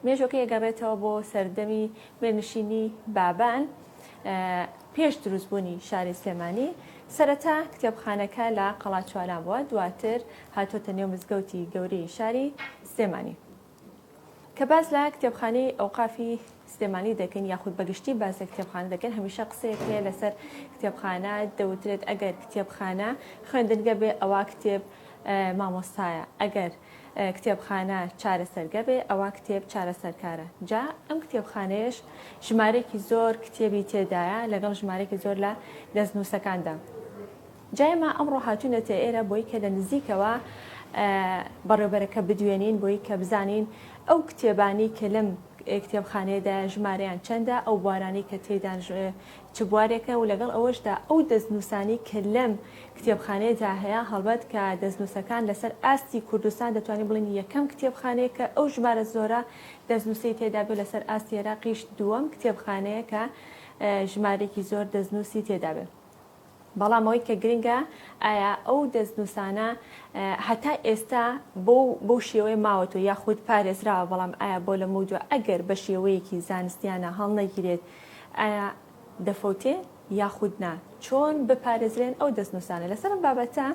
مێژووەکەی ئەگەڕێتەوە بۆ سەردەمی میرنشینی بابان پێش دروستبوونی شاری سلێمانی سەرەتا کتێبخانەکە لە قەڵاچواران بووە دواتر هاتۆتە نێو مزگەوتی گەورەی شاری سلێمانی کە باز لە کتێبخانەی ئەوقافی سلێمانی دەکەین یاخود بەگشتی باز لە کتێبخانە دەکەن هەمیشە قسەیەک هەیە لەسەر کتێبخانە دەوترێت ئەگەر کتێبخانە خوێندنگە بێ ئەوە کتێب مامۆستایە ئەگەر کتێبخانە چارەسەرگەبێ ئەوا کتێب چارەسەرکارە جا ئەم کتێبخانەیەش ژمارەیەکی زۆر کتێبی تێدایە لەگەڵ ژمارەێکی زۆر لە دەستنووسەکاندا جایما ئەمڕۆ هاتوونەتە ئێرە بۆی کە لە نزیکەوە بەڕێبەرەکە بدوێنین بۆی کە بزانین ئەو کتێبانی کە لەم کتێبخانەیەدا ژمارەیان چەندە ئەو بوارانی کە تێدان چ بوارێکە و لەگەڵ ئەوەشدا ئەو دەستنووسانەی کە لەم کتێبخانەیەدا هەیە، هەڵبەت کە دەستنووسەکان لەسەر ئاستی کوردستان دەتوانین بڵێین یەکەم کتێبخانەیە کە ئەو ژمارە زۆرە دەستنووسەی تێدا بێ، لەسەر ئاستی ئێراقیش دووەم کتێبخانەیە کە ژمارەیەکی زۆر دەستنووسی تێدا بێ. بەڵام ئەوەی کە گرنگە ئایا ئەو دەستنووسانە هەتا ئێستا بەو بەو شێوەیە ماوەتەوە یاخود پارێزراوە، بەڵام ئایا بۆ لەمەو دووا ئەگەر بە شێوەیەکی زانستیانە هەڵنەگیرێت ئایا دەفەوتێ یاخود نا؟ چۆن بپارێزرێن ئەو دەستنووسانە؟ لەسەر ئەم بابەتە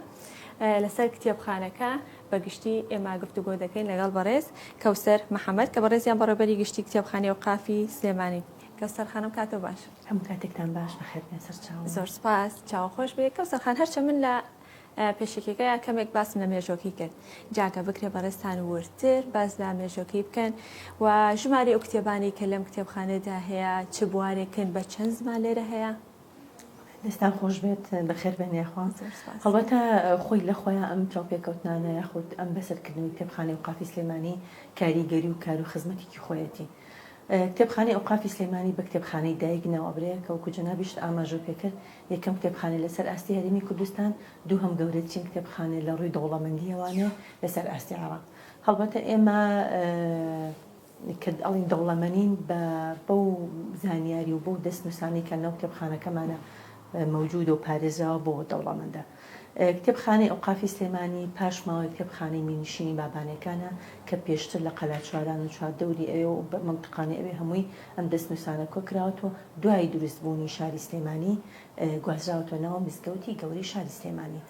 لەسەر کتێبخانەکە بە گشتی ئێمە گفتوگۆ دەکەین لەگەڵ بەڕێز کەوسەر محەمەد کە بەڕێزیان بەڕێوبەری گشتی کتێبخانەی ئەوقافی سلێمانی کەوسەر خانم کاتو باش. هەموو کاتێکتان باش بەخێر بێن سەرچاوم. زۆر سوپاس چاو خۆش بێ کەوسەر خان هەرچە من لە پێشەکیەکەیا کەمێک باسم لە مێژۆکەی کرد جاکە بکرێ بەڕێزتان وردتر باس لە مێژۆکەی بکەن و ژماری ئەو کتێبانی کە لەم کتێبخانەدا هەیە چ بوارێکن بە چەند زمان لێرە هەیە دەستان خۆش بێت بەخێر بێن یاخوا زۆر سوپاس. هەڵبەتە خۆی لە خۆیان ئەم چاوپێکەوتنانە یاخود ئەم بەسەرکردنەوەی کتێبخانەی ئەوقافی سلێمانی کاریگەری و کار و خزمەتێکی خۆیەتی کتێبخانەی ئەوقافی سلێمانی بە کتێبخانەی دایک ناوئەبرێ کە وەکو جەنابیشت ئاماژەو پێکرد یەکەم کتێبخانەیە لەسەر ئاستی هەرێمی کوردستان، دووهەم گەورەترین کتێبخانەیە لە ڕووی دەوڵەمەندیەوانێ لەسەر ئاستی عێراق. هەڵبەتە ئێمە کە ئەڵێین دەوڵەمەنین بە بەو زانیاری و بەو دەستنووسانەی کە ناو کتێبخانەکەمانە، مەوجودە و پارێزراوە بۆ دەوڵەمەندە. کتێبخانەی ئەوقافی سلێمانی پاش ماوەی کتێبخانەی میرنشینی بابانێکانە کە پێشتر لە قەلاچواران و چواردەوری ئەوێ و مەنتقانی ئەوێ هەمووی ئەم دەستنووسانە کۆکراوەتەوە دوای دروست بوونی شاری سلێمانی گوازراوەتەوە ناو مزگەوتی گەورەی شاری سلێمانی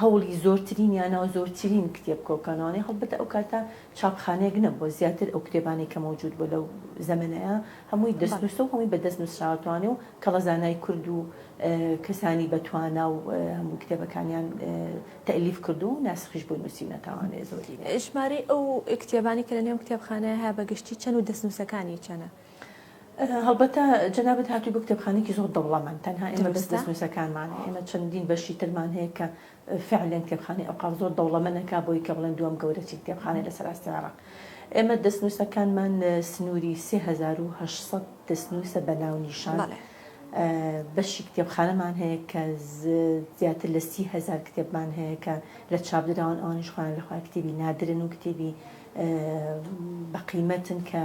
هەوڵی زۆرترین یا ناوزۆرترین کتێب کۆکانەوانەی هەڵبەتە ئەو کاتە چاپخانەیەک نەبووە زیاتر ئەو کتێبانەی کە مەوجود بووە لەو زەمەنەیا هەمووی دەستنووسە و هەمووی بە دەست نووسراوەتوانێ و کەڵە زانای کورد و کەسانی بە توانا و هەمووی کتێبەکانیان تەئلیف کردووە و ناسخیش بۆی نووسیونەتاوانێ زۆری ژمارەی ئەو کتێبانی کە لە نێو ئەم کتێبخانەیە هەیە بە گشتی چەن و دەستنووسەکانی چەنە؟ هەڵبەتە جەنابت هاتووی بۆ کتێبخانەیەکی زۆر دەوڵەمەند، تەنها ئێمە بەس دروستە. دەستنووسەکانمانە، ئێمە چەندین بەشی ترمان هەیە کە فعلەن کتێبخانەی ئەوقاف زۆر دەوڵەمەنە کا بۆی کە بڵێن دووەم گەورەترین کتێبخانەیە لەسەر ئاستی عێراق. ئێمە دەستنووسەکانمان سنووری سێ هەزار و هەشت سەد دەستنووسە بە ناونیشان. بەڵێ. بەشی کتێبخانەمان هەیە کە زیاتر لە سی هەزار کتێبمان هەیە کە لە چاپ دراون، ئەوانیش خۆیان لە خۆیان کتێبی نادرن و کتێبی بە قیمەتن کە،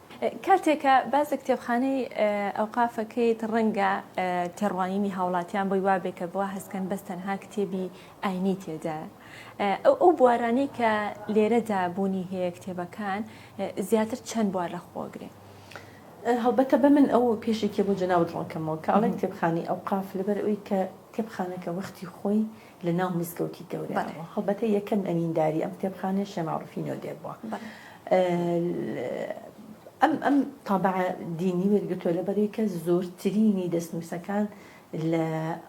کاتێک کە باس لە کتێبخانەی ئەوقاف ئەکەیت ڕەنگە تێڕوانینی هاوڵاتیان بۆی وابێ کە بوا هەستکەن بەس تەنها کتێبی ئاینی تێدایە ئەو ئەو بوارانەی کە لێرەدا بوونی هەیە کتێبەکان زیاتر چەند بوار لە خۆ ئەگرێ؟ هەڵبەتە با من ئەو کێشێکیە بۆ جەنابت ڕوون کەمەوە کە ئەڵێن کتێبخانەی ئەوقاف لەبەر ئەوەی کە کتێبخانەکە وەختی خۆی لە ناو مزگەوتی گەورەیانەوە هەڵبەتە یەکەم ئەمینداری ئەم کتێبخانەیە شێ مەعروفی نۆدێر بووە ئەم ئەم تابع دینی وەرگتووە لەبەروی کە زۆرترینی دەستنووسەکان لە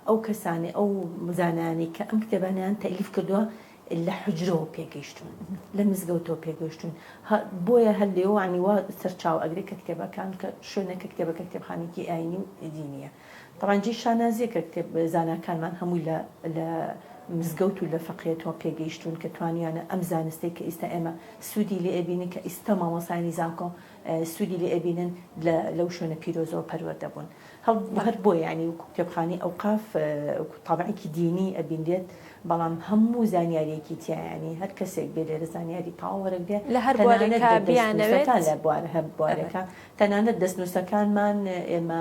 ئەو کەسانی ئەو مزانانی کە ئەم کتێبانیان تەلیف کردووە لە حجرەوە پێگەیشتون لە مزگەوتەوە پێگەشتون بۆیە هەر لێوانی وا سەرچاو ئەگرێت کە کتێبەکان کە شوێنە کە کتێبەکە کتێبخانێکی ئاینی و دینیە ڕەنجی شانازیەکە کتێب زاناکانمان هەمووی لە لە مزگەوت و لە فەقێتەوە پێگەیشتوون کە توانیویانە ئەم زانستەی کە ئیستا ئێمە سوودی لێ ئەبینین کە ئیستا مامۆستایانی زانکۆ سوودی لێ ئەبینن لە لەو شوێنە پیرۆزەوە پەروەردە بوون هەڵ هەر بۆیە یانی وەکو کتێبخانەی ئەوقاف وەکو تابعێکی دینی ئەبینرێت بەڵام هەموو زانیاریەکی تیا یانی هەر کەسێک بێ لێرە زانیاری تەواو وەرەگرێ لە هەر بوارێکا بیانەوێت تەنانەت دەستنووسەکان لە بوارە هەر بوارێکا تەنانەت دەستنووسەکانمان ئێمە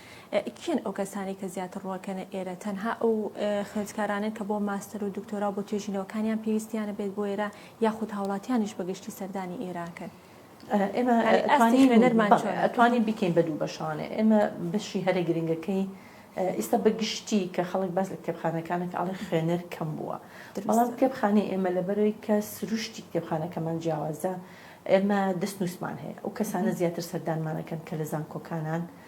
کێن ئەو کەسانەی کە زیاتر ڕوەکەنە ئێرە؟ تەنها ئەو خوێندکارانەن کە بۆ ماستەر و دکتۆرا و بۆ توێژینەوەکانیان پێویستیانە بێت بۆ ئێرە یاخود هاوڵاتیانیش بە گشتی سەردانی ئێراکەن؟ ئێمە ئەتوانین بیکەین بە دوو بەشانێ. ئێمە بەشی هەرە گرنگەکەی ئیستا بە گشتی کە خەڵک باس لە کتێبخانەکانە کە ئەڵێ خوێنەر کەم بووە. بەڵام کتێبخانەی ئێمە لەبەرەوەی کە سروشتی کتێبخانەکەمان جیاوازە، ئێمە دەستنووسمان هەیە. ئەو کەسانە زیاتر سەردانمانەکەن کە لە زانکۆکانان.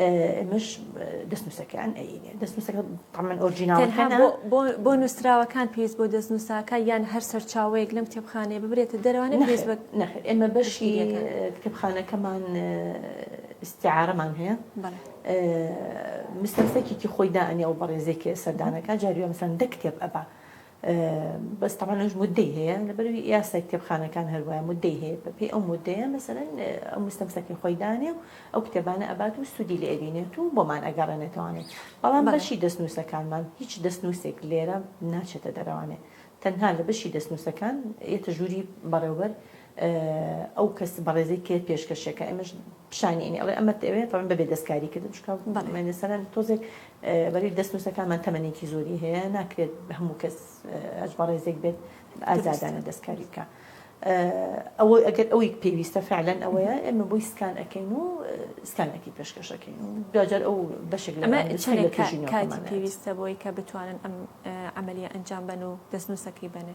ئێمەش دەستنووسەکان ئەینێ دەستنووسەکە تەمەن ئۆرجیناڵەکان بۆ نووسراوەکان پێویست بۆ دەستنووساکە یان هەر سەرچاوەیەک لەم کتێبخانەیە ببرێتە دەروانە پێویست بە ئێمە بەشی کتێبخانەکەمان استعارەمان هەیە مستەفەکێکی خۆی دانێ و بەڕێزێکی سەردانەکە جاریوە مەسەن دە کتێب ئەبا بەس تەبعەن ئەوش مودەی هەیە لەبەروی یاسای کتێبخانەکان هەروایە مودەی هەیە بەپێی ئەو مودەیە مەسەلەن ئەو مستەمسەکەی خۆی دانێ و ئەو کتێبانە ئەبات و سوودی لێ ئەبینێت و بۆمان ئەگەڕێنێتەوانێ بەڵام بەشی دەستنووسەکانمان هیچ دەستنووسێک لێرە ناچێتە دەرەوانێ تەنها لە بەشی دەستنووسەکان یەتە ژووری بەڕێوبەر ئەو کەس بەڕێزەی کێ پێشکەشە کە ئەمەش پیشانی ئەنی ئەڵێ ئەمە ئەوێ تەمەن بەبێ دەستکاری کردن چکە مەسەرەن تۆزێک بەری دەست نووسەکانمان تەمەنێکی زۆری هەیە ناکرێت هەموو کەس ئەج بەڕێزێک بێت ئازادانە دەستکاری بکە. ئەوە ئەگەر ئەوەی پێویستە فعلەن ئەوەیە ئێمە بۆی سکان ئەەکەین و سکانەکی پێشکەشەکەین و دوجار ئەو بەشێک لە پێویستە بۆی کە بتوانن ئەم ئەعملی ئەنجام بن و دەستنووسەکەی بنێ.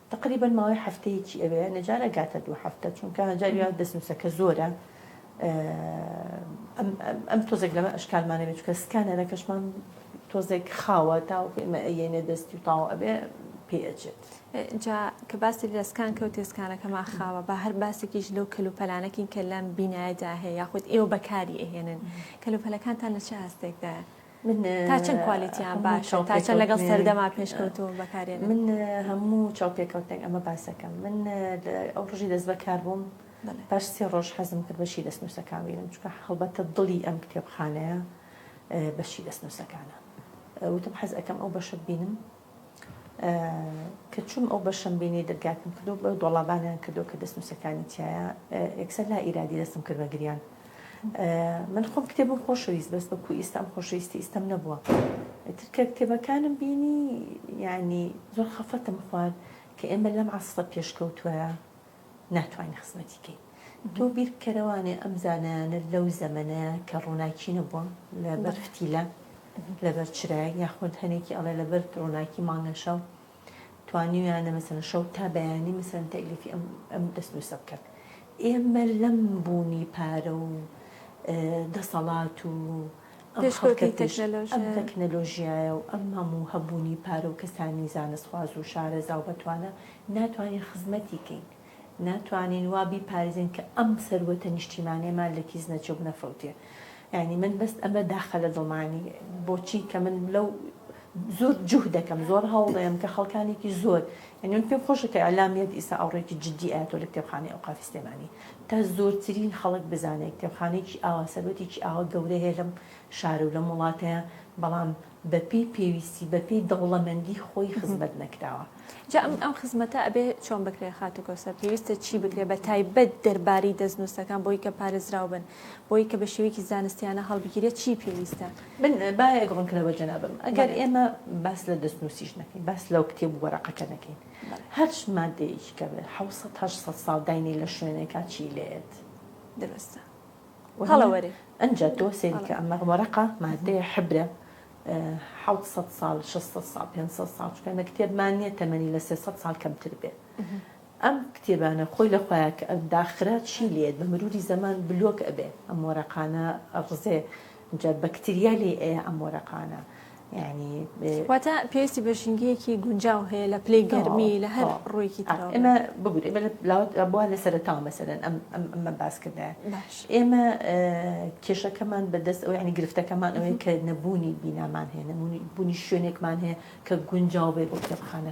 تەقریبەن ماوەی هەفتەیەکی ئەوێ نەجار ئەگاتە دوو هەفتە چونکە هەجار یا دەستنووسەکە زۆرە ئەم تۆزێک لەمە ئەشکالمانەوێت چکە سکانەرەکەشمان تۆزێک خاوە تاوەکو ئمە ئەیەنێ دەستی و تاوە ئەبێ پێ ئەچێت جا کە باسی لەسکان کەوت تێسکانەکەمان خاوە بە هەر باسێکیش لەو کەلوپەلانەکین کە لەم بینایدا هەیە یاخود ئێوە بەکاری ئەهێنن کەلوپەلەکانتان لە چه هەستێکدایە من تا چەند کوالیتیان باشە تا چەند لەگەڵ سەردەما پێشکەوتوو بەکارێن من هەموو چاو پێکەوتنێک ئەمە باسەکەم من ئەو ڕژی دەست بەکار بووم پاش سێ ڕۆژ حەزم کرد بەشی دەست نووسەکان بینم چکە هەڵبەتە دڵی ئەم کتێبخانەیە بەشی دەست نووسەکانە وتم حەز ئەەکەم ئەو بەشە بینم کە چووم ئەو بەشەم بینی دەرگاکەم کردو بە دۆڵابانیان کردو کە دەستنووسەکانی تایە ئەکسەر لا ئیرادی دەستم کرد بە گریان من خۆم کتێبم خۆشەویست بەس بەکو ئیستا ئەم خۆشەویستی ئیستەم نەبووە ترکە کتێبەکانم بینی یعنی زۆر خەفەتم خوارد کە ئێمە لەم عسرە پێشکەوتووە ناتوانین خزمەتی کەین. تۆ بیر بکەرەوانێ ئەم زانایانە لەو زەمەنەیا کە ڕووناکی نەبووە لە بەر فتیلە لە بەر چرایەک یاخود هەنێکی ئەڵێ لە بەر ڕووناکی مانگە شەو توانیویانە مەسەلەن شەو تا بەیانی مەسەلەن تەئلیفی ئەم ئەم دەستنووسە بکەن. ئێمە لەم بوونی پارە و دەسەڵات و ئەم خەڵکە پێش ئەم تەکنەلۆژیایە و ئەم هەموو هەبوونی پارە و کەسانی زانستخواز و شارەزا و بەتوانا ناتوانین خزمەتی کەین، ناتوانین وا بیپارێزین کە ئەم سەروەتە نیشتیمانیەمان لە کیس نەچێ و بنەفەوتێ. یانی من بەس ئەمە داخە لە دڵمانی بۆچی کە من لەو زۆر جوهد دەکەم زۆر هەوڵێم کە خەڵکانێکی زۆر یانی من پێم خۆشە کە ئیعلام یەت ئیسا ئاوڕێکی جدی ئایەتۆ لە کتێبخانەی ئەوقافی سلێمانی تا زۆرترین خەڵک بزانێ کتێبخانەیەکی ئاوا سەروەتێکی ئاوا گەورە هەیە لەم شارو لەم وڵاتەیا بەڵام بە پێی پێویستی بە پێی دەوڵەمەندی خۆی خزمەت نەکراوە. جا ئەم ئەم خزمەتە ئەبێ چۆن بکرێ خاتو کەوسەر پێویستە چی بکرێ بە تایبەت دەربارەی دەستنوسەکان بۆی کە پارێزراو بن بۆی کە بە شێوەیەکی زانستیانە هەڵبگیرێت چی پێویستە؟ من بایەک ڕوونکەرە بە جەنابم ئەگەر ئێمە باس لە دەستنووسیش نەکەین باس لەو کتێب و وەرەقەکە نەکەین هەر مادەیەکی کە بێت حەوت سەد هەشت سەد ساڵ داینەی لە شوێنێکا چی لێت دروستە هەڵە وەرێ ئەنجا تۆ سێریکە ئەمە وەرەقە مادەیە حبرە حەوت سەد ساڵ شەست سەد ساڵ پێنج سەد ساڵ چونکە ئێمە کتێبمان نییە تەمەنی لە سێ سەد ساڵ کەمتر بێت ئەم کتێبانە خۆی لە خۆیا کە داخرا چی لێت بە مروری زەمان بلۆک ئەبێ ئەم وەرەقانە ئەڕزێ ئینجا بەکتریا لێی ئەیە ئەم وەرەقانە یانی. واتە پێویستی بە ژینگەیەکی گونجاو هەیە لە پلەی گەرمی لە هەر ڕوویەکی ترەوە. ئێمە ببورە ئێمە لاوت بووە لە سەرەتاوە مەسەلەن ئەم ئەمە باس کردایە ئێمە کێشەکەمان بە دەست ئەو یانی گرفتەکەمان ئەوەیە کە نەبوونی بینامان هەیە نەبوونی بوونی شوێنێکمان هەیە کە گونجاو بێ بۆ کتێبخانە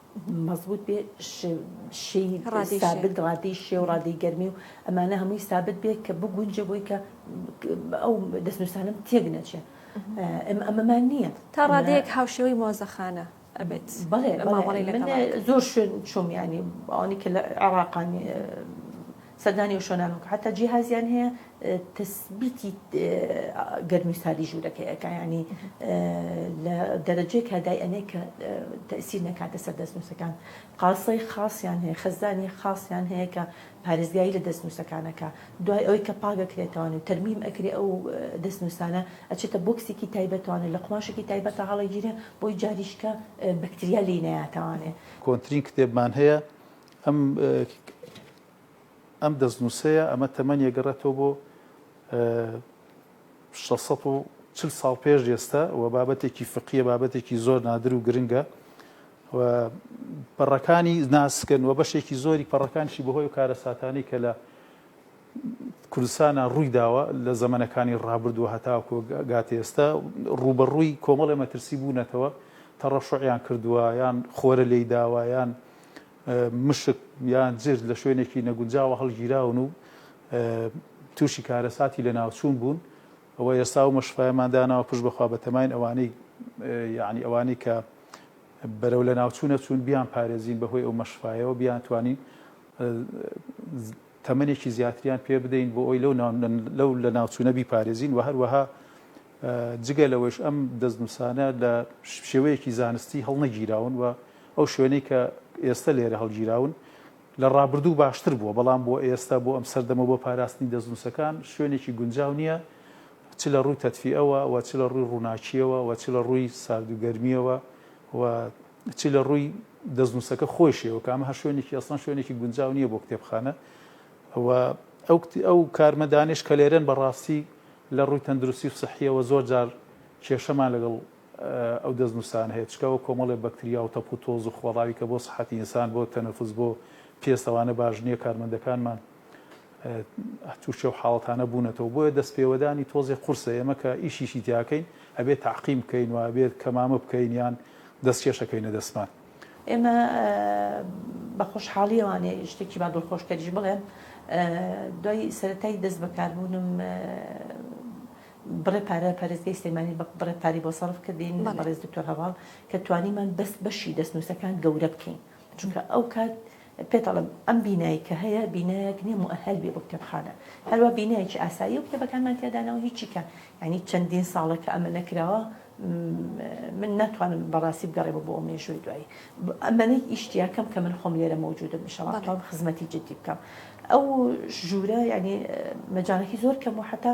مەزبووت بێ شێی سابت ڕادەی شێ و ڕادەی گەرمی و ئەمانە هەمووی سابت بێ کە بگونجێ بۆی کە ئەو دەستنووسانم تێک نەچێ ئەمەمان نییە تا ڕادەیەک هاوشێوەی مۆزەخانە ئەبێت بەڵێ زۆر شوێن چۆمیانی ئەوانی کە لە عێراقانی سەردانی ئەو شوێنانە بکە حەتا جیهازیان هەیە تەسبیتی گەرمی ساردی ژوورەکەی ئەکا یعنی لە دەرەجەیەکا دای ئەنێ کە تەسیر نەکاتە سەر دەستنووسەکان قاسەی خاصیان هەیە خەزدانی خاصیان هەیە کە پارێزگایی لە دەستنووسەکانەکە دوای ئەوەی کە پاکەکرێتەوەن و تەرمیم ئەکرێ ئەو دەستنووسانە ئەچێتە بۆکسێکی تایبەتوانێ لە قوماشێکی تایبەتە هەڵەگیرێ بۆی جاریشکە بەکتریا لێی نەیاتوانێ. کۆنترین کتێبمان هەیە ئەم ئەم دەستنووسەیە ئەمە تەمەنی ئەگەڕێتەوە بۆ شەش سەد و چل ساڵ پێش ئێستا و بابەتێکی فقیە بابەتێکی زۆر نادر و گرنگە و پەڕەکانی ناسکن و بەشێکی زۆری پەڕەکانشی بەهۆی و کارەساتانی کە لە کوردستانە ڕووی داوە لە زەمەنەکانی ڕابردووە هەتاکۆ گاتی ئێستا ڕوبەڕووی کۆمەڵی مەترسی بوونەتەوە تەڕەشعیان کردووە یان خۆرە لێی داوایان مشک یان جرت لە شوێنێکی نەگونجاوە هەڵگیراون و تووشی کارەساتی لەناوچوون بوون، ئەوە ئێستا ئەو مەشقەیەمان داناوە پشت بەخوا بەتەماین ئەوانەی یانی ئەوانەی کە بەرەو لەناوچوون ئەچوون بیانپارێزین بەهۆی ئەو مەشقایەوە بیانتوانین تەمەنێکی زیاتریان پێ بدەین بۆ ئەوی لەو لەناوچوونە بیپارێزین و هەروەها جگە لەوەش ئەم دەستنووسانە لە شێوەیەکی زانستی هەڵنەگیراون و ئەو شوێنەی کە ئێستە لێرە هەڵگیراون لە ڕابردوو باشتر بووە، بەڵام بۆ ئێستە، بۆ ئەم سەردەمە و بۆ پاراستنی دەستنووسەکان شوێنێکی گونجاو نییە، چ لە ڕووی تەدفیئەوە و چ لە ڕووی ڕووناکییەوە و چ لە ڕووی سارد و گەرمییەوە و چ لە ڕووی دەستنووسەکە خۆیشیەوە، کە ئەمە هەر شوێنێکی ئەسڵەن شوێنێکی گونجاو نییە بۆ کتێبخانە و ئەو کارمەندانەیش کە لێرەن بەڕاستی لە ڕووی تەندروستی و سحییەوە زۆر جار کێشەمان لەگەڵ ئەو دەستنووسانە هەیە چکە وەک کۆمەڵێ بەکتریا و تەپ و تۆز و خۆڕاوی کە بۆ سحەتی ئینسان بۆ تەنەفوس بۆ پێست ئەوانە باش نیە کارمەندەکانمان تووشی و حاڵەتانە بوونەتەوە بۆیە دەست پێوەدانی تۆزێ قورسە ئێمە کە ئیشیشی تیاکەین ئەبێت تاقیم بکەین و ئەبێت کەمامە بکەین یان دەست کێشەکەینە دەستمان. ئێمە بە خۆشحاڵیەوانێ شتێکی با دڵخۆشکەریش بڵێم دوای سەرەتای دەست بەکاربوونم بڕێ پارە پارێزگای سلێمانی بە بڕێ پاری بۆ سەرف کردین بەڕێز دکتۆر هەڤاڵ کە توانیمان بەس بەشی دەستنووسەکان گەورە بکەین چونکە ئەو کات پێتەڵم ئەم بینایی کە هەیە بینایەک نیە مؤهل بێ بۆ کتێبخانە هەروە بینایەکی ئاسایی و کتێبەکانمان تێدانەوە هیچی کە ینی چەندین ساڵە کە ئەمە نەکراوە من ناتوانم بەڕاستی بگەڕێمە بۆ ئەو مێژووی دوایی ئەمەەی ئیشتیاکەم کە من خۆم لێرە مەوجودم میشەڵاتوان خزمەتی جددی بکەم ئەو ژوورە ینی مەجانەکی زۆر کەم و حتا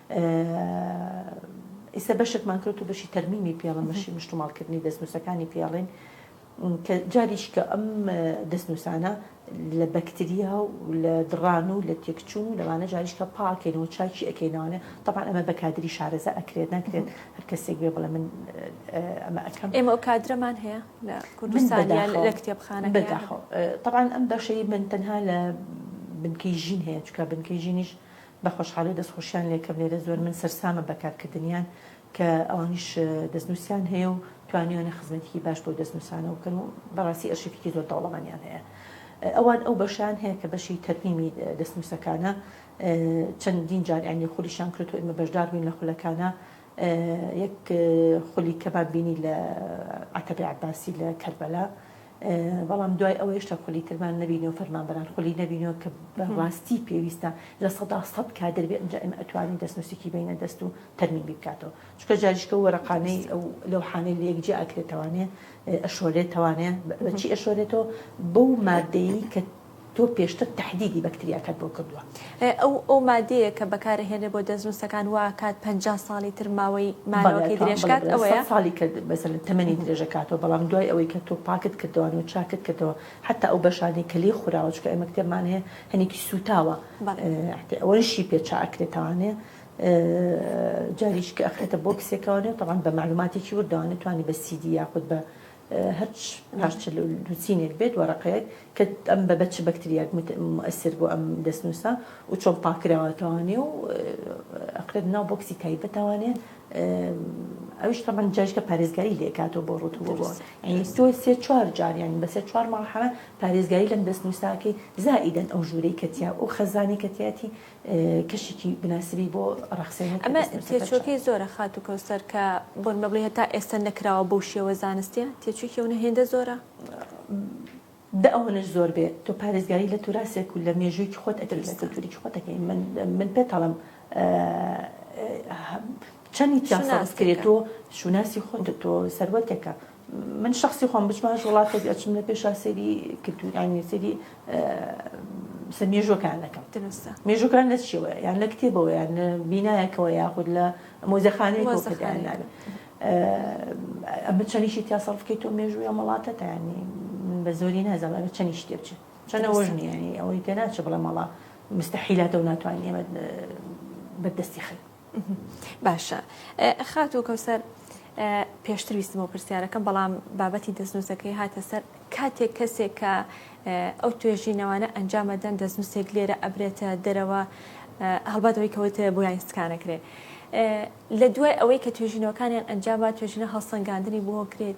ئیستا بەشەکمان کەوتو بەشی تەرمیمی پێڵن بەشی مشتوماڵ کردنی دەستنوسەکانی پێڵین کە جاریش کە ئەم دەستنوسانە لە بەکتریا و لە دڕان و لە تێکچوون و لەوانە جاریش کە پاکەینەوە چاکی ئەەکەینەوانێ تەپان ئەمە بە کادری شارەزا ئەکرێت ناکرێت هەر کەسێک بێ بڵێ من ئەمە ئەەکەم ئێمە ئەو کادرەمان هەیە لە کوردستان لە کتێبخانە بەداخۆ تەبان ئەم بەشەی من تەنها لە بنکەی ژین هەیە چکە بنکەی ژینیش بەخۆشحاڵی دەستخۆشیان لێکەم لێرە زۆر من سەرسامم بە کارکردنیان کە ئەوانیش دەستنوسیان هەیە و توانیویانە خزمەتیکی باش بەو دەستنوسانەوە بکەن و بەڕاستی ئەرشیفیکی زۆر دەوڵەمەنیان هەیە ئەوان ئەو بەشەیان هەیە کە بەشی تەرمیمی دەستنوسەکانە چەندین جار یانی خولیشان کردو ئێمە بەشدار بوین لە خولەکانا یەک خولی کەمان بینی لە عەتبی عەباسی لە کەربەلا بەڵام دوای ئەوە هێشتا خولی ترمان نەبینیەوە فەرمانبەران خولی نەبینەوە کە بەڕاستی پێویستە لە سەدا سەد کادر بێ ئەنجا ئێمە ئەتوانین دەستنووسێکی بینە دەست و تەرمیمی بکاتەوە چکە جاریشکە و وەرەقانەی ئەو لەوحانەی لە یەک جێ ئەکرێتەوانێ ئەشۆرێتەوانێ بەچی ئەشۆرێتەوە بەو مادەیی کە تۆ پێشتر تەحدیدی بەکتریاکەت بۆ کردووە. ئەو ئەو مادەیە کە بەکار ئەهێنرێت بۆ دەستنووسەکان واکات پەنجا ساڵی تر ماوەی مانەوەکەی درێژ کات ئەوەیە؟ بەڵێ سەد ساڵی کە مەسەلەن تەمەنی درێژ ئەکاتەوە بەڵام دوای ئەوەی کە تۆ پاکت کردەوە و چاکت کردەوە حەتا ئەو بەشانەی کە لێی خوراوە چونکە ئێمە کتێبمان هەیە هەنێکی سووتاوە ئەحدی ئەوەنشی پێ چا ئەکرێت تاوانێ جاریشکە ئەخرێتە بۆکسێکەوە نێ تەوان بە مەعلوماتێکی وردەوانێ توانی بە سیدی یاخود بە هەچ پاش چل و دوو چینێک بێت وەرەقەیەک کە ئەم بە بە چ بەکتریاک مؤثر بۆ ئەم دەستنووسە و چۆن پاک کراوەتەوانێ و ئەقرێت ناو بۆکسی تایبەتەوانێ ئەوش تەمان جاشکە پارێزگاری لێکاتەوە بۆ ڕوتووە بۆ ئەنی تۆ سێ چوار جار یانی بە سێ چوار ماڵحەمە پارێزگاری لەم دەستنووساکەی زائیدەن ئەو ژوورەی کەتیا ئەو خەزانی کەتیاتی کەشێکی بناسبی بۆ ڕەخسێن هەر کە ئەمە دەستم سەفەر چوو. تێچووەکەی زۆرە خاتوو کەوسەر کە بۆن بە بڵێی هەتا ئێستە نەکراوە بەو شێوە زانستیە؟ تێچووی ئەونە هێندە زۆرە؟ دە ئەوەنەش زۆر بێ تۆ پارێزگاری لە توراسێک و لە مێژوویەکی خۆت ئەکەی لە دروستە. کلتوورێکی خۆت ئەکەی من من پێتەڵم چەنی تیا سەرف کرێ تۆ شوناسی خۆتە تۆ سەروەتێکە من شخصی خۆم بچمە هەر وڵاتێک ئەچم لە پێشا سەیری کلتورانی سەیری سە مێژوەکان دەکەم مێژوەکان لە چیەوە یان لە کتێبەوە یان بینایەکەوە یاخود لە مۆزەخانەیە ئەمە چەنیشی تیا سەرف بکەیت تۆ مێژووە مەڵاتەتانی بە زۆری نازانم ئەمە چەنیش تێ بچێت چەنە وەژنیانی ئەوەی تێ ناچە بڵێ مەڵا مستحیلاتە و ناتوانانی ئەمە بەدەستی خەیت باشە خاتو کەوسەر پێشتر ویستمەوە پرسیارەکەم بەڵام بابەتی دەستنووسەکەی هاتە سەر کاتێک کەسێک کە ئەو توێژینەوانە ئەنجامەدەن دەستنووسێک لێرە ئەبرێتە دەرەوە هەڵباتەوەی کەوتە بۆ یاینستکانەکرێت لە دوای ئەوەی کە توێژینەوەکانیان ئەنجامە توێژینە هەڵسەنگاندنی بۆ کرێت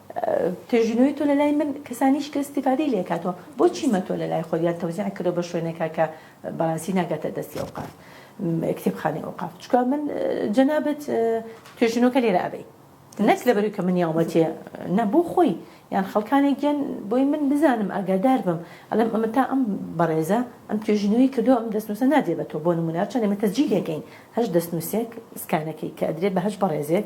پێشبینوی تۆ لەلای من کەسانی هیچ کەس استفادەی لێ کاتەوە بۆچی مە تۆ لەلای خۆت یان تەوزیع کردەوە بە شوێنێکا کە بەڕاستی ناگاتە دەستی ئەوقاف کتێبخانەی ئەوقاف چکا من جەنابەت پێشبینەکە لێرە ئەبەی نەک لەبەروی کە من یاومەتێ نەبوو خۆی یان خەڵکانێک گیان بۆی من بزانم ئاگادار بم ئەلم ئەمە تا ئەم بەڕێزە ئەم توێژینەوەی کردو ئەم دەستنووسە نادێ بە تۆ بۆ نمونار چەند ئمە تەجیلەکەین هەش دەستنووسێک سکانەکەی کە ئەدرێت بە هەش بەڕێزێک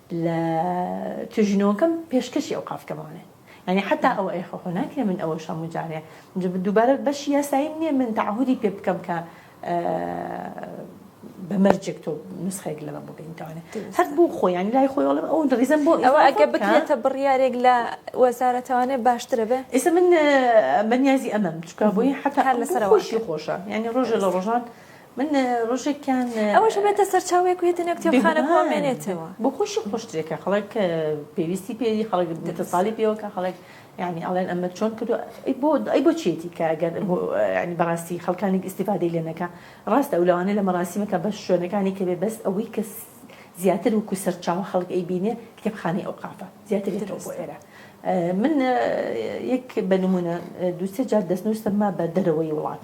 لە توێژینەوەکەم پێشکەشی ئەوقاف کەمانە یانی حتا ئەوە ئەی خۆ ناکرێ من ئەوەش هەموو جارێ دووبارە بەشی یاساییم نییە من تەعهودی پێ بکەم کە بە مەرجێک تۆ نسخێک لەمە بگەینتوانێت هەر بۆ خۆیان لای خۆی وڵم ئەو دەڕیزم بۆ ئەوە ئەگە بکرێتە بڕیارێک لە وەزارەتوانێ باشترە بێ ئێستا من بەنیازی ئەمەم چکە بۆی حتا لەسەر خۆشی خۆشە یعنی ڕۆژە لە ڕۆژان من ڕۆژێکیان ئەوەش بێتە سەرچاوەیەک و هێدنە کتێبخانە بۆ مێنێتەوە بۆ خۆشی خۆشترێکە خەڵک پێویستی پێری خەڵک دەتەساڵی پێوەکە خەڵک یعنی ئەڵێن ئەمە چۆن کردو بۆ ئەی بۆ چێتی کە گەر ینی بەڕاستی خەڵکانی ئیسیفادەی لێنەکە ڕاستە ئەو لەوانێ لە مەراسیمەکە بە شوێنەکانی کەێ بەس ئەوەی کەس زیاتر وکو سەرچاوە خەڵک ئەی بینێ کتێبخانەی ئەو قافە زیاتر لێتەوە بۆ ئێرە من یەک بە نمونە دووسێ جار دەستنووسم ما بە دەرەوەی وڵات.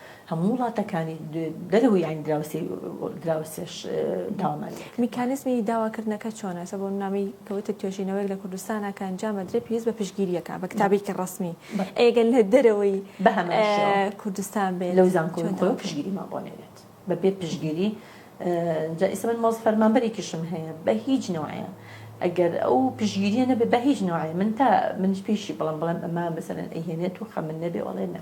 هەموو وڵاتەکانی دەرەوەی یانی دراوسێی دراوسێش داوامان لێ کرد. میکانیزمی داواکردنەکە چۆنە؟ سە بۆ نامەی کەوتە توێژینەوەیەک لە کوردستانا کە ئەنجامە درێ پێویست بە پشتگیرییەکە بە کتابێکی ڕەسمی ئێگەر لە دەرەوەی بە هەمان شێوە کوردستان بێت لەو زانکۆی خۆی پشتگیریمان بۆ نەوێت بەبێ پشتگیری جا ئیسە من مۆز فەرمانبەرێکیشم هەیە بە هیچ نەوەیە ئەگەر ئەو پشگیریە نەبێ بە هیچ نوعی من تا منش پێشی بڵم بڵم ئەمە مەسەرەن ئەهێنێت و خەمن نەبێ وڵێ نە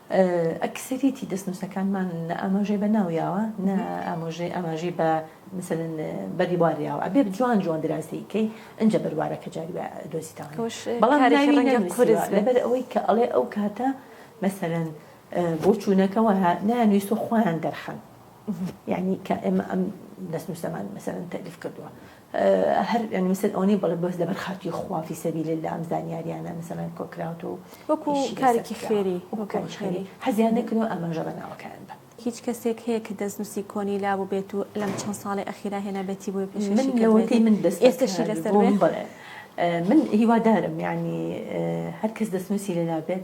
ئەکسەریەتی دەستنووسەکانمان نە ئاماژەی بە ناو یاوە نە ئامۆژەی ئاماژەی بە مەسەلەن بەریوار یاوە ئەبێ جوان جوان دراسەی کەی ئنجە بەروارەکە جاری وە دۆزیتەوە توش بەڵام کارێکی ناوی ڕەنگە نەنووسیوە قورس بێ لەبەر ئەوەی کە ئەڵێ ئەو کاتە مەسەلەن بۆچوونەکە وەها نایانویست و خۆیان دەرخەن یانی کە ئێمە ئەم دەستنووسەمان مەسەلەن تەلیف کردووە هەر یانی مەسەل ئەوە نیە بەڵێ بەس لەبەر خاتری خوا فی سەبیل اللە ئەم زانیاریانە مەسەلەن کۆکراوەتەوە و وەکو ئیشی لەسەر کارێکی کراوە. خێری وەکو کاری خێری حەزیان نەکردن و ئاماژە بە ناوەکەیان بە هیچ کەسێک هەیە کە دەستنووسی کۆنی لابووبێت و لەم چەند ساڵەی ئەخیرا هێنابێتی بۆی پێشکەشی من کردبێت؟ لەوەتەی من ئێستاشی دەستبەکار لەسەر بووم بێت؟ بەڵێ من هیوادارم یانی هەر کەس دەستنووسی لەلا بێت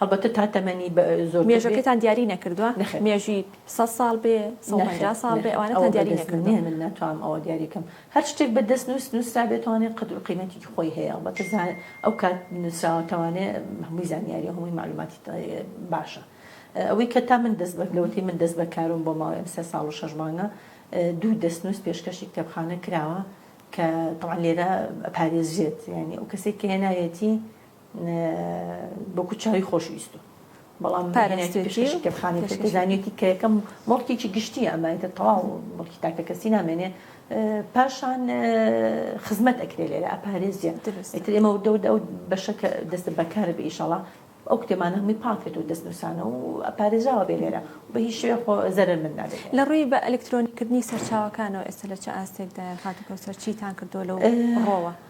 هەڵبەتە تا تەمەنی زۆرتر بێ. مێژەکەتان دیاری نەکردووە؟ نەخێر. مێژووی سەد ساڵ بێ، سەد و پەنجا ساڵ بێ، ئەوانەتان دیاری نەکردووە؟ نەخێر، ئەوە بە دەست من نییە، من ناتوانم ئەوە دیاری بکەم. هەر شتێک بە دەستنووس نووسرابێ توانێ قەدر و قیمەتێکی خۆی هەیە، هەڵبەتە ئەو کات نووسراوە توانێ هەمووی زانیارییە، هەمووی مەعلووماتی باشە. ئەوەی کە تا من دەست بە، لەوەتەی من دەست بە کاروم بۆ ماوەی ئەم سێ ساڵ و شەش مانگە، دوو دەستنووس پێشکەشی کتێبخانە کراوە کە تەبعەن لێرە ئەپارێزرێت، یانی ئەو کەسەی کە هێناویەتی بۆ کورد چاوی خۆشویستو بەڵام پارێزێتی پێشکەشی کتێبخانەی کرد کە زانیوێتی کە یەکەم مڵکێکی گشتیە ئەمە ئیتر تەواو مڵکی تاکەکەسی نامێنێ پاشان خزمەت ئەکرێ لێرە ئەپارێزیە ئیتر ئێمە وردە وردە ئەو بەشە کە دەستە بەکار بە ئیشەڵا ئەو کتێمانە هەمووی پاکێت و دەستنووسانە و ئەپارێزراوە بێ لێرە بە هیچ شوێ خۆ زەرەر من نابێت لە ڕووی بە ئەلکترۆنیکردنی سەرچاوەکانەوە ئێستا لە چ ئاستێکدا خاتوو کەوسەر چیتان کردووە لەو ڕۆوە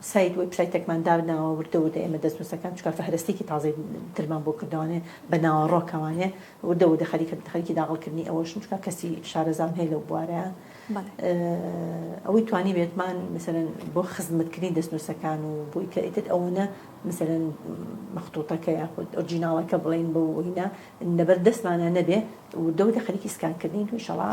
سایت وێبسایتەکمان دابناوە وردە وردە ئێمە دەستنوسەکان چونکە فەهرەستێکی تازەی ترمان بۆ کردەوانێ بە ناوەڕۆکەوانێ وردە وردە خەریکە خەریکی داغڵ کردنی ئەوەشم چونکە کەسی شارەزام هەیە لەو بوارە ئەوەی توانی بێتمان مثلەن بۆ خزمەتکردنی دەستنوسەکان و بۆی کە ئیتر ئەوەنە مثلەن مەخطوطەکە یاخود ئۆرجیناڵەکە بڵین بۆ وینە لەبەر دەستمانە نەبێ وردە وردە خەریکی سکانکردنین و ئینشاڵا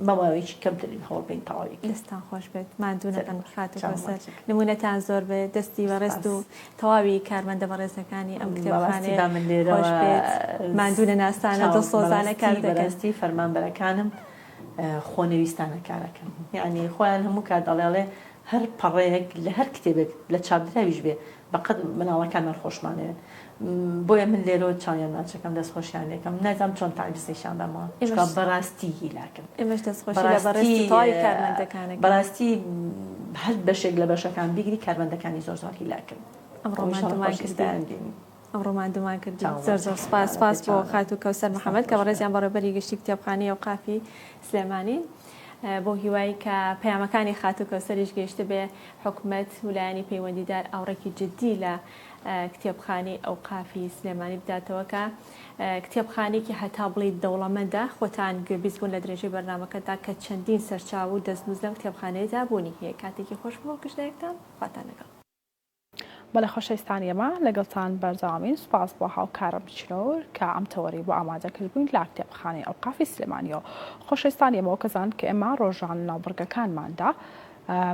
ماماوەیەکی کەمترین هەوڵ بەین تەواوی بکەین. دەستتان خۆش بێت ماندوو نەبن خاتوو کەوسەر نموونەتان زۆر بێت دەستی بەڕێزت و تەواوی کارمەندە بەڕێزەکانی ئەم کتێبخانەیە خۆش بێت ماندوو نەناسانە دڵسۆزانە کار دەکەن. بەڕاستی فەرمانبەرەکانم خۆنەویستانە کار ئەکەن یانی خۆیان هەموو کات ئەڵێ ئەڵێ هەر پەڕەیەک لە هەر کتێبێک لە چاپدراویش بێ بەقەد مناڵەکانمان خۆشمانەوێت بۆیە من لێرەوە چاویان ناچەکەم دەست خۆشیان لێکەم نازام چۆن تاریس نیشان بەمەوە چکا بەڕاستی هیلاکن بەڕاستی هەر بەشێک لە بەشەکان بیگری کارمەندەکانی زۆر زۆر هیلاکن ئەم ڕۆمان دومان کرد زۆر زۆر سپاس سپاس بۆ خات و کەوسەر محەممەد کە بەڕێزیان بەڕێبەری گشتی کتێبخانی و قافی سلێمانی بۆ هیوای کە پەیامەکانی خاتوو کەوسەریش گەیشتبێ حکومەت و لایەنی پەیوەندیدار ئاوڕێکی جددی لە کتێبخانەی ئەوقافی سلێمانی بداتەوە کە کتێبخانێکی هەتا بڵیت دەوڵەمەندە خۆتان گوێبیست بوون لە درێژەی بەرنمەکەدا کە چەندین سەرچاو و دەستنووس لەم کتێبخانەیەدا بوونی هەیە کاتێکی خۆش بۆ گشتێکتان خواتان لەگەڵ بەڵێ خۆشەویستان ئێمە لەگەڵتان بەردەوامین سوپاس بۆ هاوکارم چنۆور کە ئەم تەوەرەی بۆ ئامادە کردبووین لە کتێبخانەی ئەوقافی سلێمانیەوە خۆشەویستان ئێمە وەکەزان کە ئێمە ڕۆژان لەناو بڕگەکانماندا